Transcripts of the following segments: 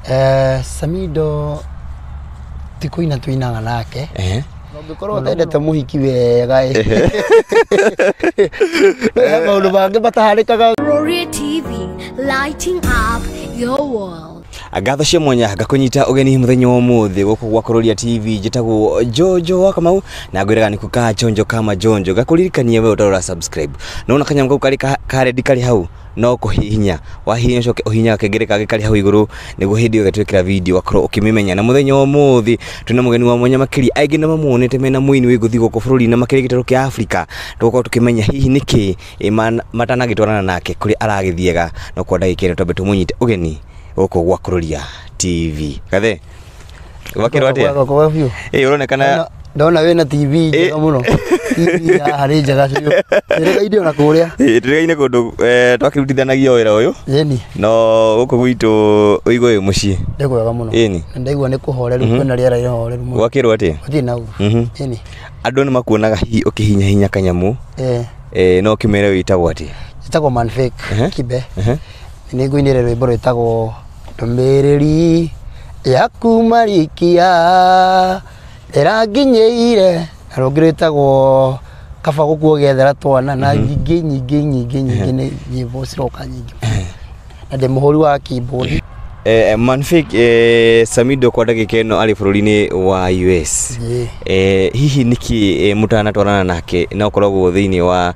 Eh, Samido ti kũina tũinaga nake Ehe. na ũngĩkorwo ũtendete mũhiki wega ĩ he maũndũ mangĩ mataharĩkaga Roria TV, lighting up your world. ngatho cia mwanya ngakũnyita ũgeni mũthenya wa ũmũthĩ gũkũ gwa kũroria tv njĩtagwo jojo wa kamau na ngwĩraga nĩ kukaa jonjo kama jonjo ngakũririkania we ũtarora subscribe nona kanyamũ kau karĩ ka- ka red karĩ hau no kũhihinya wahihinya ũcoke ũhihinya gakengere kangĩ karĩ hau igũrũ nĩguo hĩndĩ ĩyo getwĩkĩra video ũgakorwo ũkĩmĩmenya na mũthenya wa ũmũthĩ twĩna mũgeni wa mwanya makĩria aingĩ nĩ mamuonete mena mũini wĩ ngũthi gũkũ bũrũri-inĩ makĩria gĩtarũ kĩa Africa tũgũkorwo tũkĩmenya hihi nĩkĩ ĩ ma- matanagĩtwarana nake kũrĩa aragĩthiaga no kwa ndagĩka ĩno twambe tũmũnyite ũgeni gũkũ gwa Kũrũria TV gathe gwakĩrwo atĩa Gwakwa kwega biũ. ĩĩ ũronekana Ndona- ndona wĩna tv njega mũno tv ya harĩ njega biũ ĩrĩgainde ona kũrĩa Ĩĩ, tũrĩgaine kũndũ eh, twakĩrutithanagia wĩra ũyũ ĩni no gũkũ gwitũ ũigũ wĩ mũciĩ nĩ kwega mũno Ĩni. Na ndaigua nĩ kũhoreru kwĩna rĩera rĩhoreru mũno gwakĩrwo atĩa gũtirĩ na ũru Mhm. ĩni andũ nĩ makuonaga hihi ũkĩhinyahinya kanyamũ Eh, eh, no ũkĩmere wĩtagwo atĩa njĩtagwo manfik Ehe. kibe Ehe. Nĩ ngũinĩre rwĩmbo rwĩtagwo ndũmĩrĩri yaku marikia ĩranginyĩire na rũngĩ rwĩtagwo kaba gũkuo gĩethera twana na mhm. nyingĩ nyingĩ nyingĩ nyingĩ nĩ nyĩmbo ciroka nyingĩ na ndĩ mũhũri wa keyboard Eh, eh, Manfik eh, Samido kwa ndagika ino ari bururi-ini wa US yeah. eh, hihi niki eh, mutanatwarana nake na ukoragwo thiini wa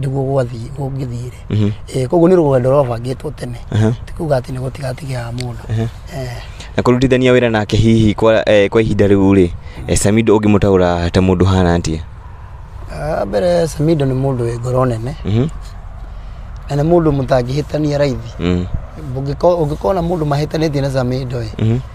nĩguo gwathiĩ gũngĩthiĩ-rĩ Mhm. Eh, koguo nĩ rũgendo rwabangĩtwo tene Aha. ti kuga atĩ nĩ gũtigatigaga mũndũ Aha. Eh, na kũrutithania wĩra nake hihi kwa, eh, kwa ihinda rĩu rĩ eh, samido ũngĩmũtaũra ta mũndũ hana atĩa ah, mbere samido nĩ mũndũ wĩ ngoro nene Mhm. na nĩ mũndũ mũtangĩhĩtania raithi Mm. Ũngĩko- ũngĩkona mũndũ mahĩtanĩtie na samido ĩ Mhm.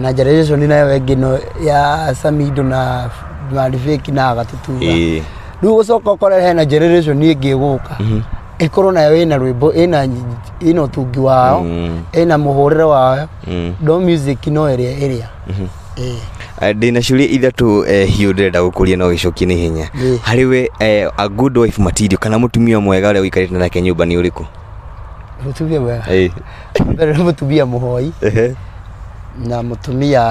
na generation nayo ĩngĩ no ya samido na marifeki na agatutuga Ĩĩ. rĩu gũcoka ũkore hena generation ĩngĩ ĩgũka ĩkorwo nayo ĩna rwĩmbo ĩna ĩna ũtungi wao Mm. ĩna mũhũrĩre wayo Mm. ndo music no ĩrĩa ĩrĩa Ĩĩ. Eh, ndĩna ciũria ithatũ eh, hiũ ndĩrenda gũkũria no gĩcokie na ihenya Ĩĩ. harĩ we eh, a good wife material kana mũtumia mwega ũrĩa ũikarĩte nake nyũmba nĩ ũrĩkũ mũtumia mwega Ĩĩ. Mbere nĩ mũtumia mũhoi Ehe. na mũtumia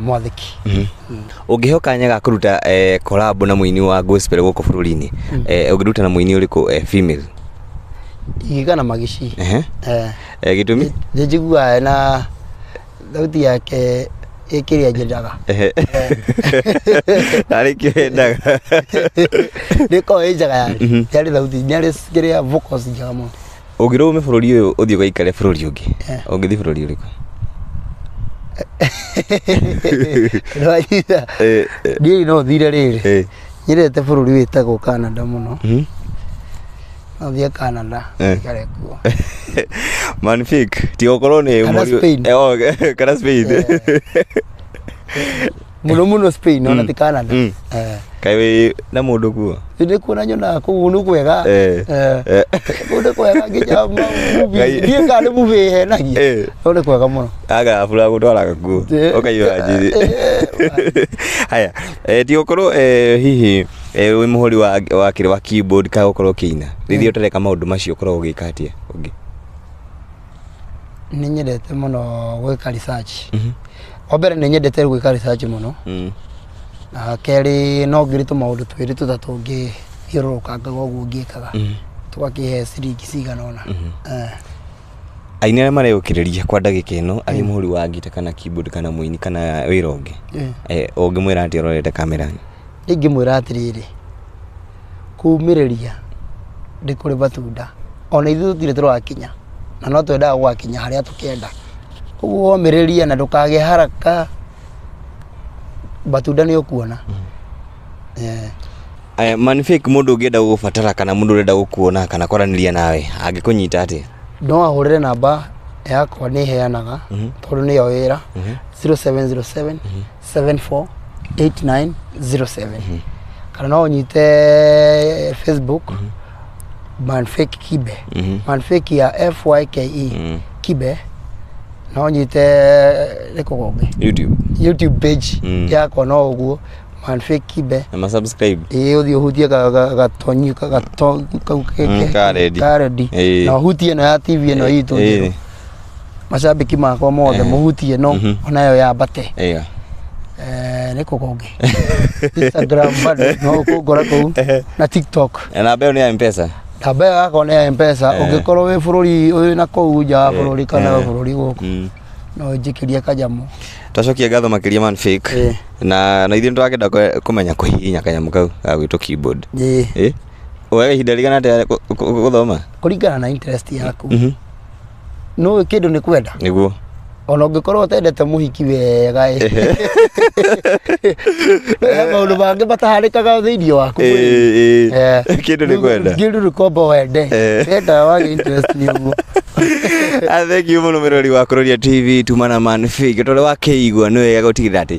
mwathĩki. Ũngĩheo kanya ga kũruta eh, collab na mũini wa gospel gũkũ bũrũri-inĩ eh, ũngĩruta na mũini ũrĩkũ eh, female Igiga na magici. Ehe. Eh, Eh, gĩtũmi Nĩ njiguaga ena thauti yake ĩkĩrĩa nyendaga. Ehe. arĩ kĩwendaga Nĩkoragwo ĩ njega yani. Nĩ arĩ thauti, nĩ arĩ kĩrĩa vocals njega mũno. Ũngĩrwo ume bũrũri ũyũ ũthiĩ ũgaikare bũrũri ũngĩ, Eh. ũngĩthiĩ bũrũri ũrĩkũ? Ndwanyita. Eh, eh, Ndiĩ no thire rĩrĩ. eh, Nyendete bũrũri wĩtagwo Canada mũno. mhm. No thiĩ Canada. Eh. Ikare kuo. Man fake, tiga ũkorwo nĩ Kana mũri- Spain. Eh, oh, kana Spain. muno muno spain ona ti canada Mm. Eh, kaĩ wĩ na mũndũ kuo nĩ kuona nyonaga kũu nĩ kwega Eh. Eh, Eh. kũu nĩ kwega nginya ma- movie- Ngai. ndiĩ kana nĩ movie ĩhenagia Eh. kũu nĩ kwega mũno agabura gũtwaraga kuo Eh. ũkaiyũra njĩrĩ Eh. haya eh, ti gũkorwo eh, hihi eh, wĩ mũhũri wa wa kĩrĩ wa keyboard kana gũkorwo ũkĩina rĩrĩa ũtareka maũndũ macio ũkoragwo ũgĩka atĩa ũngĩ nĩ nyendete mũno gwĩka research wa mbere nĩ nyendete gwĩka research mũno Mm. na kerĩ no ngĩrĩ tũmaũndũ twĩrĩ tũtatũ ngĩthiũrũrũkanga ũguo ngĩkaga tũgakĩhe ciringi cigana ũna Eh. aini arĩa mareyũkĩrĩria kwa ndagĩka ĩno arĩ mũhũri wa ngita kana keyboard kana mũini kana wĩra ũngĩ Eh. Eh, ũngĩmwĩra atĩ ũrorete kamera Ingĩmwĩra atĩrĩrĩ, kumĩrĩria ndĩ kũrĩ matunda, ona ithuĩ tũtirĩ tũrakinya na no twendaga gũgakinya harĩa tũkenda. Ũguo ũmĩrĩrie na ndũkagĩe haraka, matunda nĩ ũkuona. Aya, Man Fake mũndũ ũngĩenda gũgũbatara kana mũndũ ũrenda gũkuona kana kwaranĩria nawe angĩkũnyita atĩa? No ahũrĩre namba yakwa nĩ heanaga tondũ nĩyo wĩra, 0707. 748907 kana no ũnyite facebook manfake kibe manfake ya fyke kibe no ũnyite nĩ kũgongĩ youtube youtube page Mm. yakwa no ũguo manfake kibe na masubscribe ĩĩ ũthiĩ ũhutie ga- ga- gatonyi ka- gato- kau ke- Mm, ke- ka redi. ka redi. Ĩĩ. na ũhutie ĩno ya tv ĩno itũ Ĩĩ. njerũ macambĩki makwa mothe Eh. mũhuti ĩno Mhm. onayo yambate ĩyo Eh, nĩ kũ kũngĩ instagram bado no kũngora kũu na tiktok Eh, namba ĩyo nĩ ya mpesa namba ĩyo yakwa nĩ ya mpesa Eh. ũngĩkorwo wĩ bũrũri ũyũ na kũu nja wa Eh, bũrũri kana wĩ eh. bũrũri gũkũ Mm. no njĩkĩrie kanyamũ twacokia ngatho makĩria man fake Eh. na na ithuĩ nĩ tũrakenda kwe- kũmenya kũhihinya kanyamũ kau ga gwĩtũ keyboard Ĩĩ. Eh? Woyaga ihinda rĩigana atĩa kũ- kũ- kũ- gũthoma? kũringana na interest yaku Mhm. nũ kĩndũ nĩ kwenda Nĩguo. ona ũngĩkorwo ũtendete mũhiki wega ĩ. No he maũndũ mangĩ mataharĩkaga thĩinĩ waku mwĩrĩ. Ĩĩ, ĩĩ. Eh, Kĩndũ nĩ kwenda. kĩndũ nĩ kwenda wende Eh. wenda wage interest nĩ ũguo Ah, thank you mũno mĩrori wa kũroria tv tumana man fig tondũ wakĩigua nĩ wega gũtigĩrĩra atĩ